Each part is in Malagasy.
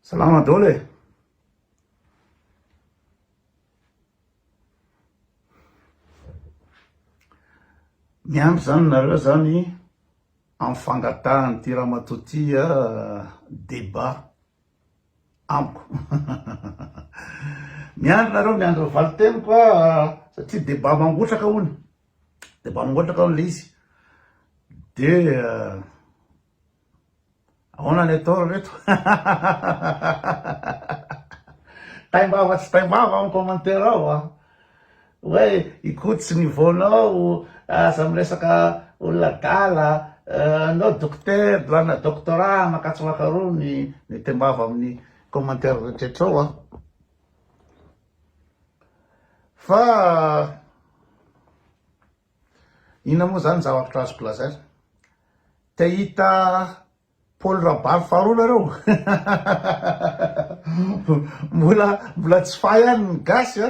Salama dolo e! Miampy zany nareo zany amin'ny fangatahany ty ramatoa ty débat amiko. Miandry nareo miandry ny valiteniko satria débat mangotraka hono. Débat mangotraka hono le izy. Dia Ahoana ny atao ry reto? Taimbava tsy taimbava amin'ny commentaire ao a. Hoe ikotsy niveau-nao, aza miresaka olona adala, anao dokotera, lana doctorat, makatso makaroa ny ny taimbava amin'ny commentaire rehetra ao a. Fa. Inona moa izany zavatra azoko lazaina? Te hita Paoly Rabary faharoa nareo? Mbola mbola tsy fahy ihany ny gasy a!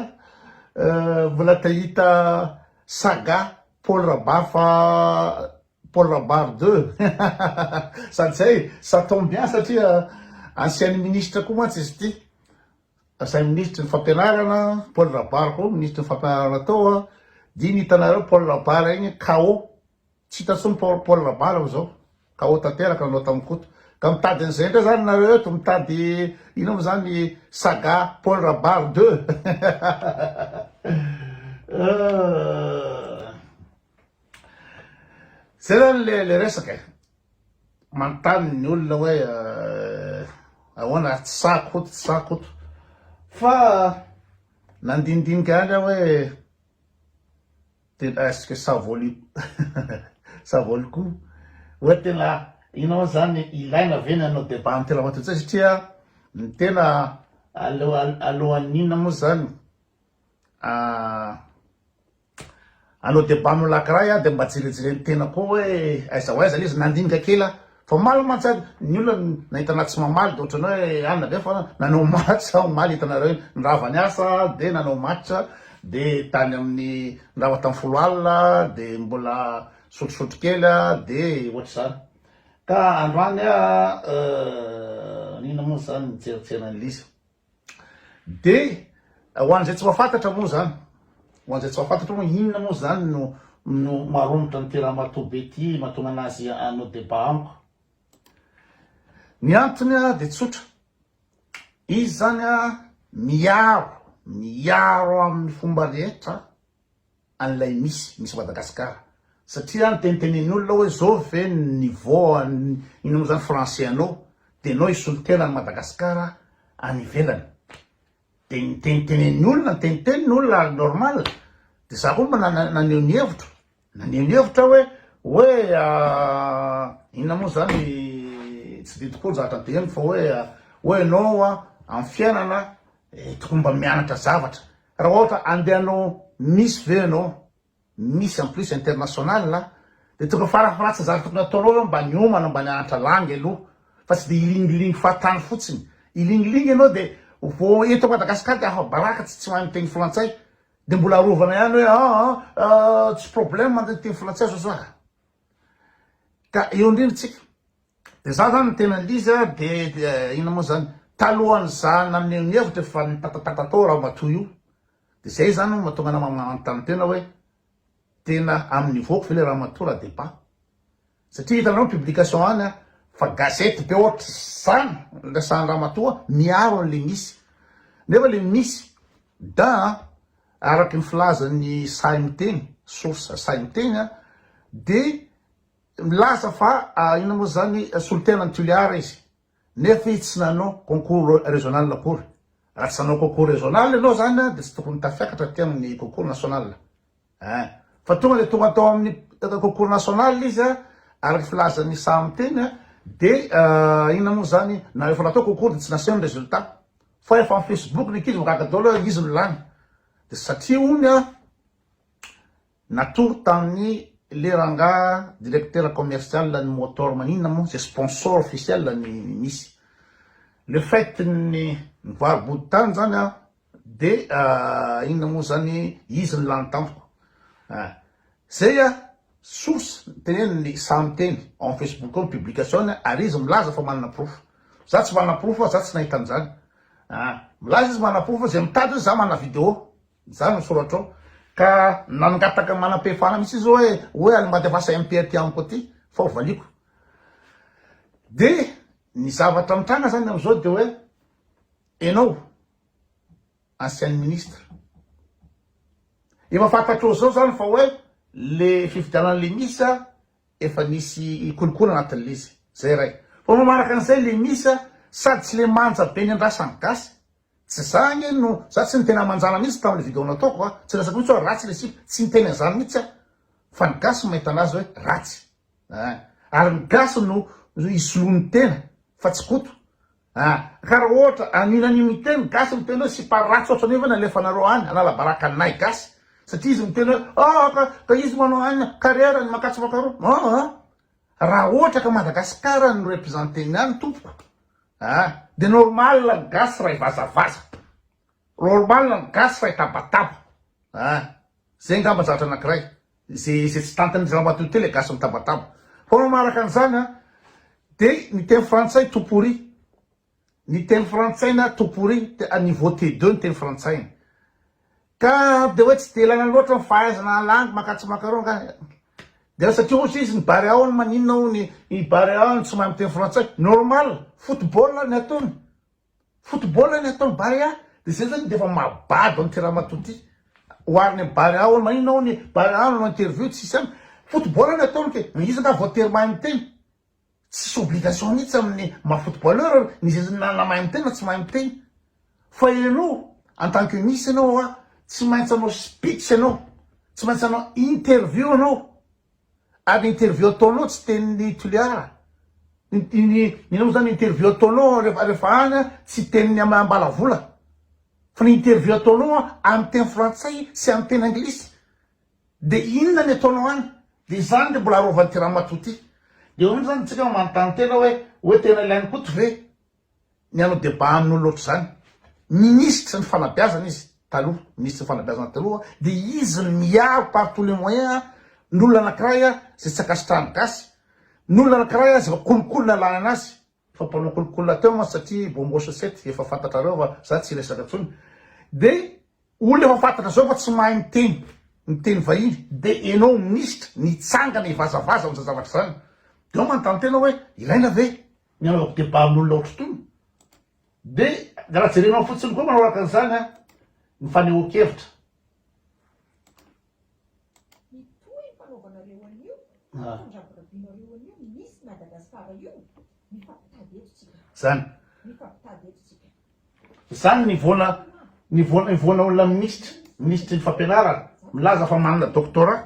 Mbola te hita saga Paoly Rabary fa Paoly Rabary deux sady zay ça tombe bien satria ancienne ministre koa mantsy izy ity. Asain'ny minisitry ny fampianarana, Paul Rabary koa minisitry ny fampianarana tao a, dino hitanareo Paul Rabary ainy KO, tsy hita intsony Paul Rabary amin'izao, KO tanteraka nanao tamin'i Koto. Ka mitady an'izay indray zany nareo eto, mitady inona moa zany saga Paul Rabary deux. Zay zany le resaka e. Manontany ny olona hoe ahoana ary tsy sahy Koto, tsy sahy Koto. Fa nandinidinika ihany aho hoe tena est-ce que ça vaut le ça vaut le coup? Hoe tena inona izany, ilaina ve ny hanao débat an'ity lavato ity satria ny tena alohan'inona moa izany Hanao debat amin'i Lakray aho dia mba jerejereny tena koa hoe aiza ho aiza le izy, nandinika kely aho fa omaly mantsy ary ny olona nahita anah tsy mamaly dia ohatran'ny hoe any na be fa nanao match aho omaly hitanareo iny, ny rava niasa dia nanao match dia tany amin'ny ny rava tany folo alina dia mbola sotrosotro kely aho dia ohatr'izany ka androany aho inona moa zany nijerijery an'ilay izy. Dia ho an'izay tsy mahafantatra moa izany, ho an'izay tsy mahafantatra moa inona moa izany no no maromotra an'ity ramatoa be ity mahatonga an'azy hanao débat amiko. Ny antony dia tsotra, izy izany miaro, miaro amin'ny fomba rehetra an'ilay misy misy Madagascar satria ny tenitenen'ny olona hoe zao ve ny niveau an'ny ino moa zany français anao de enao hisolo tena an'i Madagascar any ivelany de ny tenitenen'ny olona ny teniteniny olona normal de za koa mba naneho ny hevitro naneho ny hevitra hoe hoe inona moa zany tsy de tokoa zahatra de eny fa hoe hoe enao amin'ny fiainana tokony mba mianatra zavatra Raha ohatra handeha hanao miss ve ianao, miss en plus international a, dia tokony farafaharatsa ny zavatra tokony hataonao aloha mba niomana mba nianatra langue aloha fa tsy dia hilingilingy fahatany fotsiny. Hilingilingy ianao dia vao eto à Madagascar dia afa-baraka tsy tsy mahay miteny frantsay dia mbola arovana ihany hoe an an an tsy problème ny miteny frantsay zao zah. Ka eo indrindra tsika De za zany tena l'izy a de inona moa zany talohan'ny za naneho ny hevitro efa nitatatata tao ramatoa io de zay zany no mahatonga anah manontany tena hoe tena amin'ny niveau-ko ve le ramatoa raha debat satria hitanareo ny publication any a fa gazety be ohatr'izany ny resahan'ny ramatoa miaro an'le misy nefa le misy da araky ny filazan'ny sahy miteny source sahy miteny a de Milaza fa inona moa izany solontenan'i Toliara izy nefa izy tsy nanao concours régional akory. Raha tsy nanao concours régional ianao izany dia tsy tokony tafiakatra aty amin'ny concours national eh! Fa tonga dia tonga tao amin'ny concours national izy araka ny filazan'i Sam teny dia inona moa izany na efa natao concours dia tsy naseho ny résultat fa efa amin'ny facebook ny ankizy mahagaga daholo hoe izy no lany dia satria hono Natory tamin'ny le rangaha directeur commercial ny motor maninona moa ze sponsor officiel ny misy le fait ny nivarobody tany zany aho de inona moa zany izy ny lany tampoko ah zay ah source teneniny samy teny ao am facebook ao ny publication-ny ary izy milaza fa manana porofo za tsy manana porofo fa za tsy nahita an'zany ah milaza izy manana porofo fa ze mitady oe za manana video. Zany no soratrao ka nangataka manam-pehefana mihitsy izy hoe hoe alimbatevasa MP aty amiko aty fa ho valiako. Dia ny zavatra mitranga zany amin'izao dia hoe enao ancienne ministre efa fantatrao zao zany fa hoe le fifidianana le misa efa nisy kolikoly anatin'le izy zay iray fa manaraka an'izay le misa sady tsy le manja be ny andrasan'ny gasy Tsy za ange no, za tsy niteny amanjala mihitsy tamin'le video nataoko a, tsy resako mihitsy hoe ratsy le sipa, tsy niteny an'zany mihitsy aho, fa ny gasy no mahita anazy hoe ratsy an, ary ny gasy no hisoloany tena fa tsy koto an, ka raha ohatra anio na anio miteny ny gasy miteny hoe sipa ratsy ohatra anio ve no alefanareo any analabaraka anay gasy satria izy miteny hoe aa ka ka izy manao anina carrière ny makatso makaroa aa raha ohatra ka Madagascar no representer-ny any tompoko. Ah! De normal ny gasy ray vazavaza. Normal ny gasy ray tabataba. Ah! Zay ngamba zavatra anakiray. Ze ze tsy tantin'ny ramatoa teo le gasy mitabataba. Fa manaraka an'izany an, de ny teny frantsay tout pourri. Ny teny frantsaina tout pourri, à niveau T2 ny teny frantsaina. Ka dia hoe tsy dia ilaina loatra ny fahaizana alangy maka tsy maka ireo angaha e. Dia satria hozy izy ny Barea hono maninona hono i Barea no tsy mahay miteny frantsay. Normal, football ny ataony. Football ny ataon'i Barea. Dia izay izany dia efa mahabado an'ity ramatoa ity. Oharina amin'i Barea hono maninona hono i Barea no nanao interview tsy isy any. Football ny ataony kay. Izy angaha voatery mahay miteny. Tsisy obligation mihitsy amin'ny maha footballeur ny zeziny na na mahay miteny na tsy mahay miteny fa ianao en tant que Miss ianao hoa tsy maintsy hanao speech ianao tsy maintsy hanao interview ianao ary ny interview ataonao tsy tenin'i Toliara ny ny ny inona moa zany ny interview ataonao rehefa rehefa any an tsy tenin'i Am- Ambalavola fa ny interview ataonao an amin'ny teny frantsay sy amin'ny teny anglisy De inona ny ataonao any? De izany le mbola arovan'ity ramatoa ty. De ohatry zany tsika manontany tena hoe hoe tena ilain'i Koto ve ny hanao débat amin'olona ohatry zany? Minisitry ny fanabeazana izy taloha, minisitry ny fanabeazana taloha de izy no miaro par tous les moyens ny olona anakiray zay tsy ankasitrahan'ny gasy, ny olona anakiray zay kolikoly ny alanana azy. fa mpanao kolikola teo mantsy satria bongo chaussette efa fantatrareo fa za tsy resaka tsony de olona efa fantatra zao fa tsy mahay miteny miteny vahiny de enao minisitra nitsangana hivazavaza amza zavatra zany de ao manontany tena hoe ilaina ve ny anaovako debat amin'olona ohatry tony de raha jerenao fotsiny koa manoraka an'zany a ny fanehoan-kevitra. Zany. Zany ny voana ny voana voana olona minisitra minisitry ny fampianarana milaza fa manana doctorat.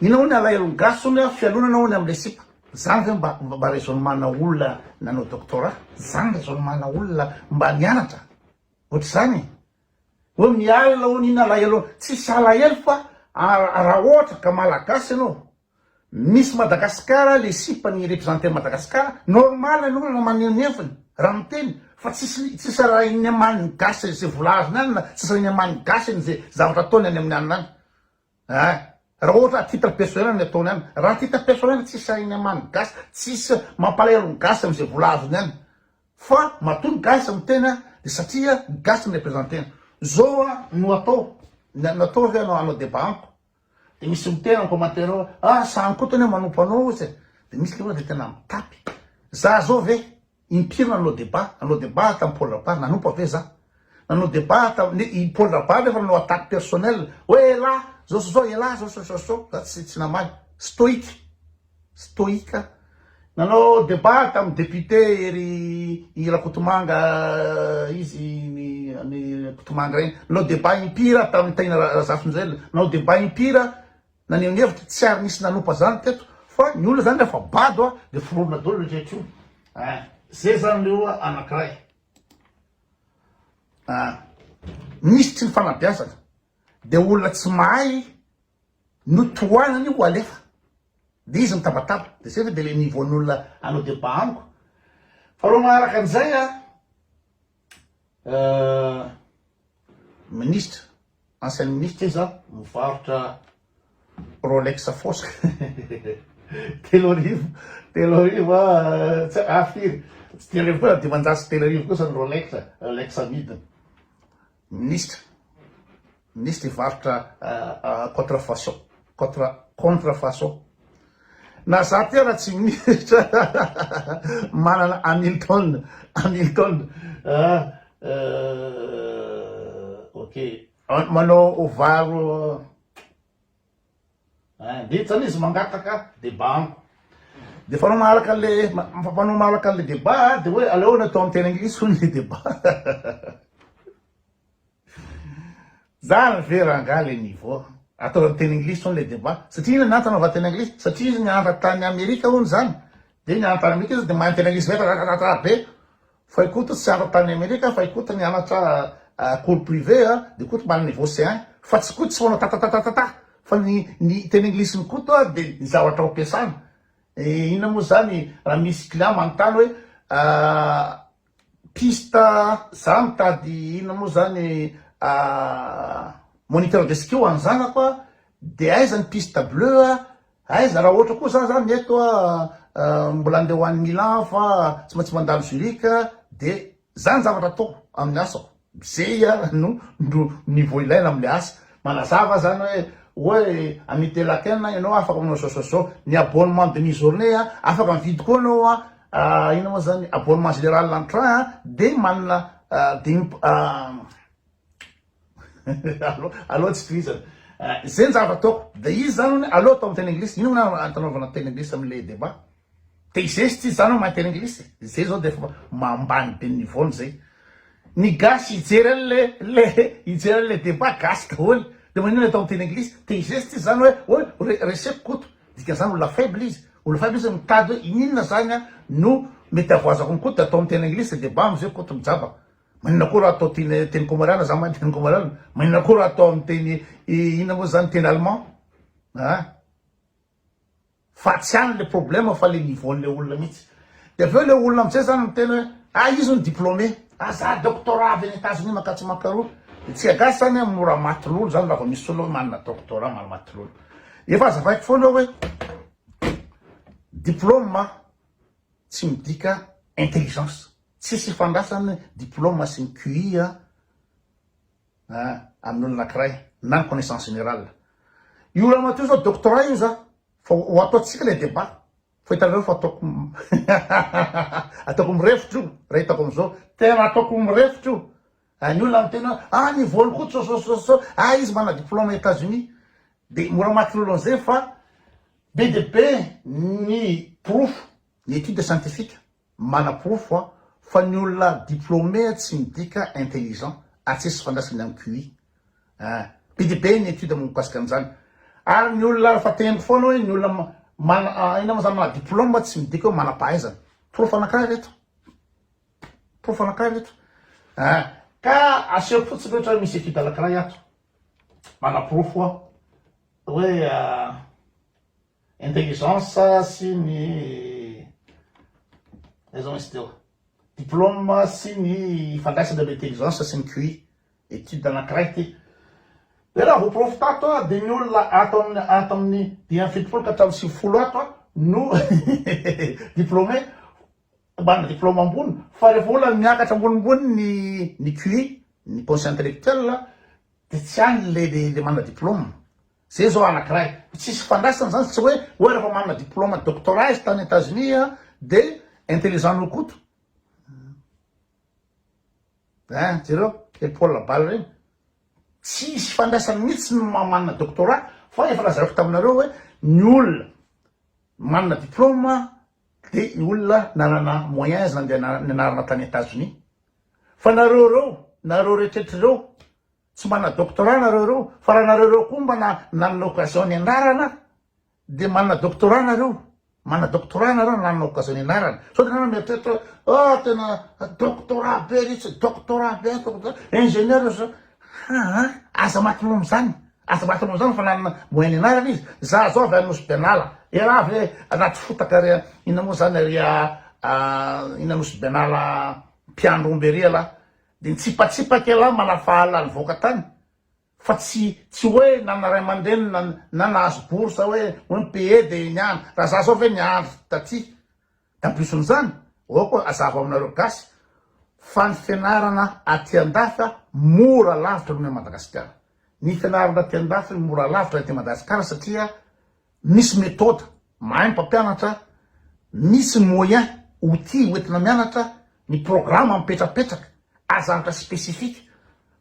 Inona hono alahelon'ny gasy hono a fialonana hono amle sipa? Zany ve mba mba raisonnement na olona nanao doctorat? Zany raisonnement na olona mba nianatra? Ohatr'izany e! Hoe mialona hono inona alahelon'ny tsisy alahelo fa raha ohatra ka malagasy ianao Miss Madagascar le sipa ny representer an'i Madagascar normal ny olona maneho ny heviny raha miteny fa tsisy tsisy arahin'ny aman'ny gasy ze vola azony any na tsisy arahin'ny aman'ny gasy any ze zavatra ataony any amin'ny alina any. Eeh! Raha ohatra à titre personnel no ataony any, raha à titre personnel tsy sahiny hamaha ny gasy, tsisy mampalahelo ny gasy amin'izay vola azony any, fa matoa ny gasy miteny a, dia satria ny gasy no representeny. Zao a, no atao, ny anao atao ve anao hanao débat amiko, dia misy miteny en commentaire hoe ah sahan'i koto anie manompo anao ozy e, dia misy le hoe le tena mitapy, za zao ve? Impiry nanao debat? Nanao debat tamin'i Paul Rabary nanompa ve za? Nanao debat tamin'i i Paul Rabary nefa nanao attaque personnelle hoe elah zao sy zao elah zao sy zao sy zao za tsy tsy namaly. Stoïque. Stoïque. Nanao debat tamin'i député ery i Rakotomanga izy ny ny Rakotomanga iny. Nanao debat impiry aho tamin'i Tahiana Ra- Razafinjoelina. Nanao debat impiry aho naneho ny hevitra, tsy ary nisy nanompa zany teto fa ny olona zany refa bado a de foronina dolo le rehetra io ah ze zany le oa anakiray ah nisy tsy nifanabeazana de olona tsy mahay no tohanany ho alefa de izy mitabataba de ze ve de le niveau ny olona anao deba amiko fa ro maharaka anizay a Ministra, ancienne ministra ve za mivarotra Rolex fosque telo arivo telo arivo a tsy ah firy tsy telo arivo koa dimanjato sy telo arivo kosa ny Rolex Rolex amidiny Ministra Minisitry varotra contrefaçon, contre, contrefaçon. Na za ty ara tsy minisitra manana Hamilton, Hamilton, ah, ok, manao varo, ah, vita zany izy mangataka deba amiko. Dia fanao maharaka an'le, mampanao maharaka an'le deba, dia hoe aleo natao amin'ny teny anglisy hono le deba. Zany ve rangah le niveau? Atao am teny anglisy hono le debat, satria inona ny antony anaovana teny anglisy? Satria izy niantra tany amerika hono zany, de nianatra tany amerika izy de mahay miteny anglisy rarararara be, fay koto tsy niantra tany amerika fay koto nianatra cours privé a, de koto mba niveau C un, fa tsy koto tsy manao tatatatatata, fa ny ny teny anglisiny koto a de ny zavatra ampiasana, inona moa zany raha misy client manontany hoe Piste za mitady inona moa zany moniteur de ski ho an'ny zanako a, de aiza ny piste bleu a, aiza raha ohatra koa za zany eto a mbola andeha ho any Milan aho fa tsy maintsy mandalo Zurich a, de zany zavatra ataoko amin'ny asako. Zay ara no niveau ilaina amle asa. Manazava zany hoe hoe ami telaken ianao afaka manao zao zao zao. Ny abonnement demi journee a afaka mividy koa anao a inona moa zany abonnement general en train a de manana demi aleo aleo tsy tohizana zay ny zava-taoko de izy zany hono aleo atao am teny anglisy. Inona ny antony anaovana teny anglisy amle debat? Dia izay sy tsy izany en matière anglisy e. Izay izao dia efa ambany be ny niveau-ny izay. Ny gasy hijery an'ilay ilay hijery an'ilay débat gasy daholo. Dia maninona atao amin'ny teny anglisy? Dia izay sy tsy izany hoe hoe re reseko Koto. Dikan'izany olona faible izy. Olona faible izy mitady hoe ininona izany no mety havoazako an'i Koto dia atao amin'ny teny anglisy dia bam izay Koto mijaba. Maninona koa raha atao teny teny kômôriàna za mahay teny kômôriàna. Maninona koa raha atao amin'ny teny inona moa izany teny allemand. Aa. Fa tsy any le problème fa le niveau n'le olona mihitsy. De avy eo le olona amzay zany miteny hoe ah izy hono diplômé, ah za doctorat avy any Etazonia mankatso makaroa. De tsika gasy zany an mora maty lolo zany raha vao misy olona hoe manana doctorat maro maty lolo. Efa azavaiko foana hoe diplôme tsy midika intelligence. Tsisy ifandrasany diplôme sy ny QI an. amin'ny olona anankiray na connaissance générale. Io ramatoa zao doctorat io za fa ho ataontsika ilay débat fa hitanareo fa ataoko ataoko mirefotra io raha hitako amin'izao tena ataoko mirefotra io ah, ny olona miteny hoe ah ny volo koa tsososososao ah izy mana diplôme États-Unis dia mora maty lolo an'izay fa be dia be ny porofo ny étude scientifique Manaporofo aho fa ny olona diplômé tsy midika intelligent ary tsisy ifandraisany amin'ny QI eh. Be dia be ny étude mikasika an'izany. Ary ny olona efa tendry foana hoe ny olona mana ah, inona moa izany maha diplôme tsy midika hoe manam-pahaizana. Porofo anankiray ry reto. Porofo anankiray ry reto eh. Ka asehoko fotsiny ry reto hoe misy étude anankiray ato manaporofo aho hoe ah, Intelligence sy ny aiza moa izy teo? Diplôme sy ny ifandraisany amin'ny intelligence sy ny QI. Étude anankiray ity. Dia raha voaporofo tato dia ny olona ato amin'ny ato amin'ny dimy amby fitopolo ka hatramin'ny sivifolo ato no diplômé manana diplôme ambony fa rehefa olona miakatra ambonimbony ny ny QI ny conscient intellectuel dia tsy any le le manana diplôme. Zay zao anakiray tsisy ifandraisany zany tsy hoe hoe refa manana diploma doctorat izy tany Etats Unis a de intelligent noho Koto hein jereo le Paul Labal reny tsisy ifandraisany mitsy ny maha manana doctorat fa efa lazaiko taminareo hoe ny olona manana diploma de ny olona nanana moyens nandeha nianarana tany Etats Unis fa nareo reo nareo rehetrretra reo Tsy manana doctorat nareo reo fa raha nareo reo koa mba nanana occasion nianarana de manana doctorat nareo manana doctorat nareo nanana occasion nianarana sao de nareo mieritreritra hoe ah tena doctorat be ry tsy doctorat be doctorat ingénieur zao haa aza maty noho am'zany aza maty noho am'zany fa nanana moyen nianarana izy za zao avy any nosy benala elah ve anaty fotaka ry inona moa zany ry inona nosy benala mpiandry omby ery elah Dia nitsipatsipaka ialahy manafahala nivoaka tany fa tsy tsy hoe nana ray aman-dreny na na nahazo bourse hoe hoe ny PE dia iny ihany. Raha za zao ve niandry taty tampiso an'izany? Aoka azava aminareo gasy fa ny fianarana aty andafy a mora lavitra noho ny Madagasikara. Ny fianarana aty andafy mora lavitra aty Madagasikara satria misy méthode, mahay ny mpampianatra, misy moyen, outil hoentina mianatra, ny programme mipetrapetraka, aza anatra spécifique,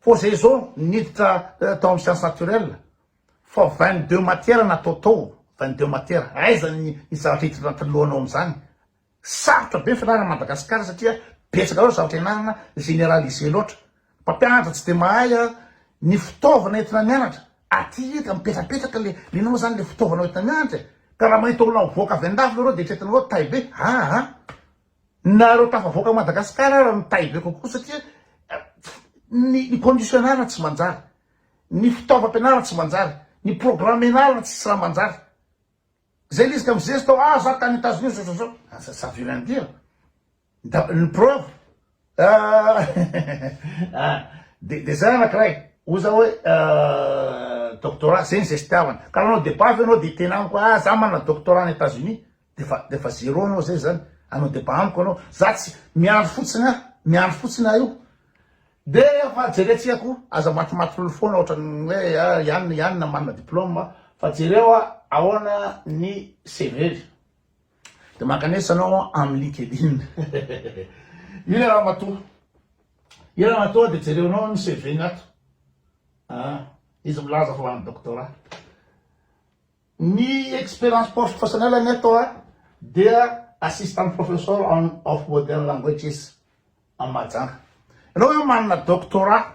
fô zay zao niditra tao am science naturelle fa vingt deux matière natao tao, vingt deux matière, aiza ny zavatra hiditra anatin'ny lohanao amzany, Sarotra be ny fianarana Madagascar satria betsaka loatra zavatra ianarana generalise loatra. Mpampianatra tsy dia mahay a, ny fitaovana entina mianatra aty eto mipetrapetraka le inona moa zany le fitaovana entina mianatra e? Ka raha mahita olona mivoaka avy andafy leroa dia eritreretina hoe tay be aa! Nareo tafavoaka Madagascar ara no tay be kokoa satria ny ny condition ianarana tsy manjary, ny fitaovam-pianarana tsy manjary, ny programme ianarana tsisy raha manjary. Zay lezika am zesto ao ah za tany Etazonia zao zao zao ça ça veut rien dire da ny preuve ah de de zay anakiray hoy za hoe doctorat zegny zay fitiavana ka raha anao debat avy eo anao de hiteny amiko ah za manana doctorat any Etazonia defa defa zero anao zay zany hanao debat amiko anao za tsy miandry fotsiny ah miandry fotsiny ah io De efa jerentsika ko, aza matimatin'olo foana ohatran'ny hoe iany iany na manana diploma fa jereo a ahoana ny CV-ny. De mankanesa anao amin'ny linkedin. Io le ramatoa. Io ramatoa de jereonao ny CV-ny ato. Ah, izy milaza fa ho an'ny doctorat. Ny experience professionnelle-ny ato a dia assistant professor of modern languages. An Mahajanga. Ianao ve manana doctorat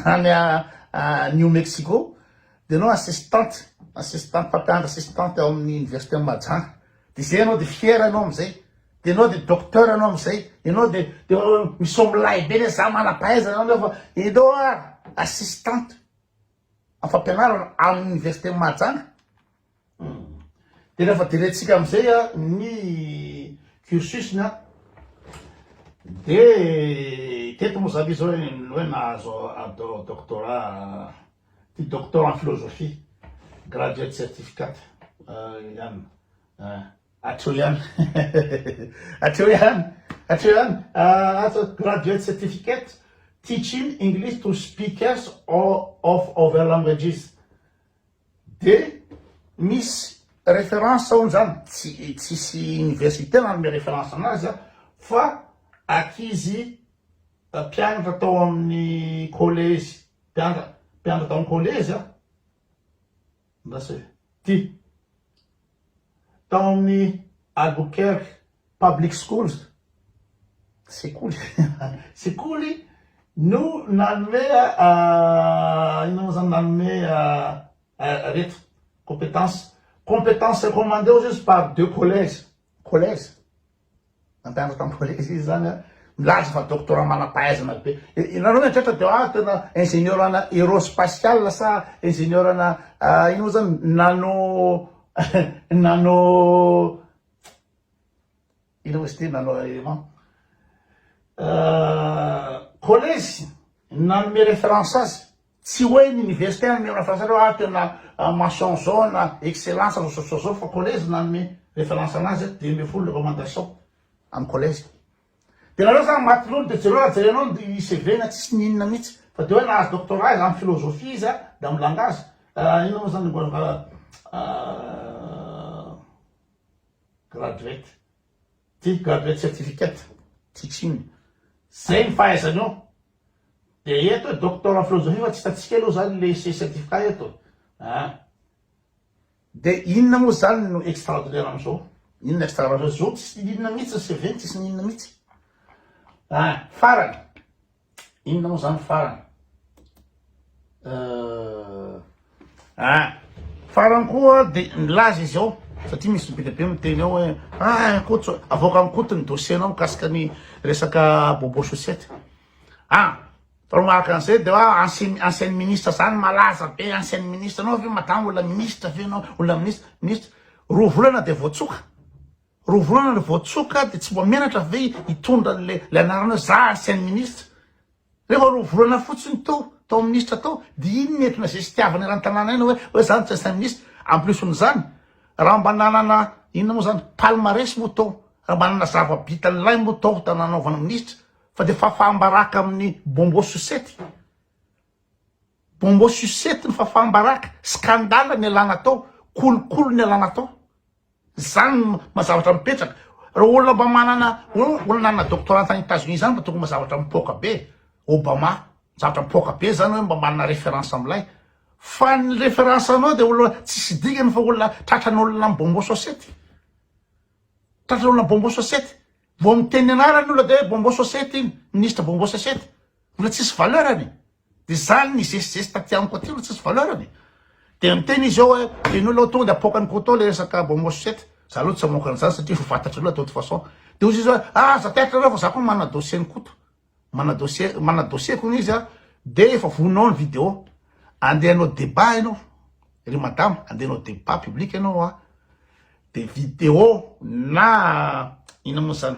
any New Mexico dia ianao assistante, assistante, mpampianatra assistante ao amin'ny université an'i Mahajanga. Dia izay ianao dia fier ianao amin'izay. Dia ianao dia docteur ianao amin'izay. Ianao dia dia misaoa milay be ilay za manam-pahaizana ianao nefa ianao ary assistante amin'ny fampianarana amin'ny université an'i Mahajanga. Dia rehefa jerentsika amin'izay ny cursus-ny dia teto Mozambique izao ny hoe nahazo doctorat, ty doctor en philosophie, graduate certificate ihany. Hatreo ihany, hatreo ihany, hatreo ihany, azo graduate certificate teaching English to speakers of other languages. De misy reference hono zany tsy tsisy université nanome reference anazy a fa ankizy mpianatra tao amin'ny collège mpianatra mpianatra tao amin'ny collège a andraso e ty tao amin'ny Albuquerque public schools, sekoly, sekoly no nanome inona moa zany nanome reto compétence, compétence recommandée hozy izy par deux collèges, collèges, nampianatra tamin'ny collèges izy zany an, milaza fa doctorat manam-pahaizana be, ianareo mieritreritra dia hoa tena ingénieur ana aerospatial sa ingénieur ana inona moa zany nano nano. Université Naloaeman. Collège nanome référence azy. Tsy hoe ny université nanome référence azy ah tena mention jaune, excellence, zao zao zao zao fa collège nanome référence anazy hoe dimy ambin'ny folo ny recommandation amin'ny collège. Dia nareo zany maty lolo dia jereo raha jerenao ny CV-na tsisy ny inona mihitsy fa dia hoe nahazo doctorat izy amin'ny philosophie izy dia amin'ny langage inona moa zany ny graduate ty graduate certificate teaching zay ny fahaizany eo de eto hoe doctor en philosophie fa tsy hitantsika aloha zany le ise certificat eto a ah. de inona moa zany no extraordinaire am'zao inona extraordinaire zao tsisy inona mihitsy ny cv tsisy ny inona mihitsy ah farany Inona moa zany farany? Ah, farany koa de nilaza izy ao satria misy be dia be miteny ao hoe ah Koto avoaka amin'i Koto ny dossier-nao mikasika ny resaka bobo chaussette. Ah, fa raha araka an'izay de hoe ancien ancienne ministre zany malaza be ancienne ministre anao ve madama olona ministre ve ianao olona ministre ministre roa volana de voatsoka. Roa volana ry voatsoka dia tsy mba menatra ve hitondra an'ilay ilay anarana za ancienne ministre? Rehefa roa volana fotsiny teo tao ministra tao dia iny nentina izay tsy tiavany eran-tanàna iny hoe hoe za no tsy ancienne ministre. En plus n'izany raha mba nanana inona moa izany palmarès moa tao raha mba nanana zava-bitan'ilay moa tao ta nanaovana ministra fa dia fafam-baraka amin'ny bonbon sucette. Bonbon sucette ny fafam-baraka, scandale ny alana tao, kolikoly ny alana tao. Zany no maha zavatra mipetraka. Reo olona mba manana olona nanana doctorat tany Etats-Unis zany mba tokony mba zavatra mipoaka be. Obama, zavatra mipoaka be zany oe mba manana reference amilay. Fa ny reference anao de olona tsisy dingany fa olona tratran'olona am bonbon sosety. Tratran'olona am bonbon sosety. Vao miteny ny anarany ny olona de oe bonbon sosety iny, ministra bonbon sosety. Olona tsisy valeur-ny. Dia izany nizesizesy taty amiko aty no tsisy valeur-ny e. Dia niteny izy eo hoe, ianao aloha tonga dia apoaka an'i Koto ilay resaka Bomo Sucette. Izaho aloha tsy hamoaka an'izany satria efa fantatrareo ilay de toute façon. Dia hoy izy hoe, aza taitra anareo fa izaho koa manana dossier an'i Koto. Manana dossier, manana dossier-ko hono izy an. Dia efa vonona ao ny vidéo. Andeha hanao débat ianao, ry madama, andeha hanao débat public ianao an. Dia vidéo na inona moa izany.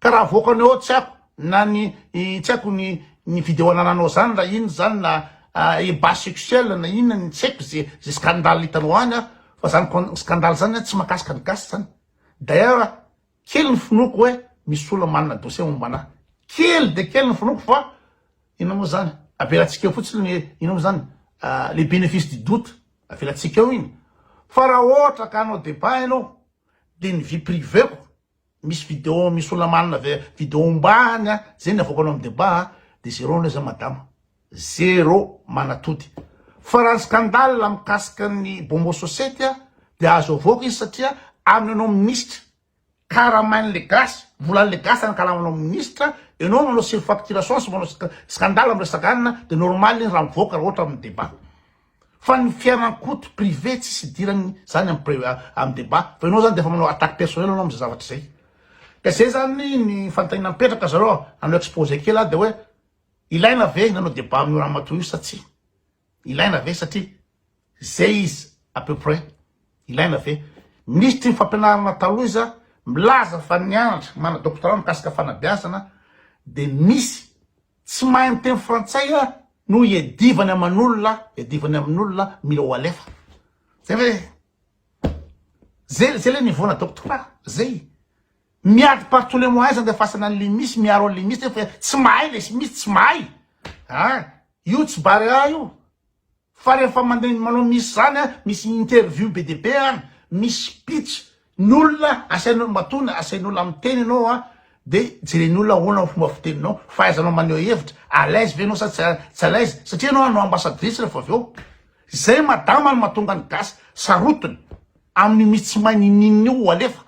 Ka raha avoakany ao tsy aiko na ny tsy aiko ny ny video anananao zany raha inona zany na ebat sexuel na inona ny tsy aiko ze ze scandale hitanao any an fa zany scandale zany an tsy mahakasika ny gasy zany d'ailleurs kely ny finoako hoe misy olona manana dossier momba anahy kely dia kely ny finoako fa inona moa zany avelatsika eo fotsiny ny inona moa zany le benefice du doute avelatsika eo iny fa raha ohatra ka hanao debat ianao dia ny vie priveko Misy video misy olona manana ve video ombany a, zay ny avoakanao am debat a, de zero anie zay madama, zero manatody. Fa raha ny scandale mikasika ny Bombo Sosety a, de azo avoaka izy satria aminy anao minisitra, karamain le gasy, volan le gasy anakalamanao minisitra, enao manao surfacturation sy manao scandale miresaka anina, de normal iny raha mivoaka raha ohatra am debat. Fa ny fiaran-koto privé tsisy hidirany zany am pri am debat fa enao zany de efa manao attaque personnel anao amze zavatra zay ka zay zany ny fanontanina mipetraka zareo a anao exposé kely a de oe ilaina ve ny anao debat amio ramatoa io sa tsia ilaina ve satria ze izy a peu près ilaina ve misy ty fampianarana taloha iza milaza fa nianatra mana doctorat mikasika fanabeazana de misy Tsy mahay miteny frantsay a no iadivany aman'olona iadivany amin'olona mila ho alefa zay ve zay zay le niveau nataoko tokoa zay miady par tous les moyens zany de fasana an'le misy miaro an'le misy nefa tsy mahay le misy tsy mahay a io tsy barre a io Fa rehefa mandeha ny manao misy zany misy interview be dia be an, misy speech n'olona asainao matoana asain'olona miteny ianao an dia jeren'olona ahoana ny fomba fiteninao, fahaizanao maneho hevitra, à l'aise ve ianao sa tsy tsy à l'aise satria ianao hanao ambassadrice rehefa avy eo. Zay madama no mahatonga ny gasy sarotiny amin'io mihi tsy mahay nininin'io ho alefa.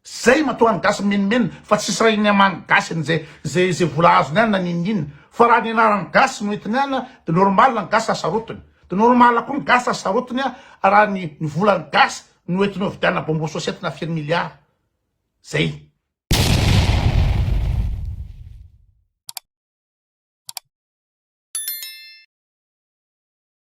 Zay matoa ny gasy mimenomenona fa tsisy raha iny aman gasy ny zay zay zay vola azony any na ninininona fa raha ny anarany gasy no entiny any de normal ny gasy asarotiny de normal koa ny gasy asarotiny raha ny ny volany gasy no entiny ovidianina bonbon sosety na firy milliard zay.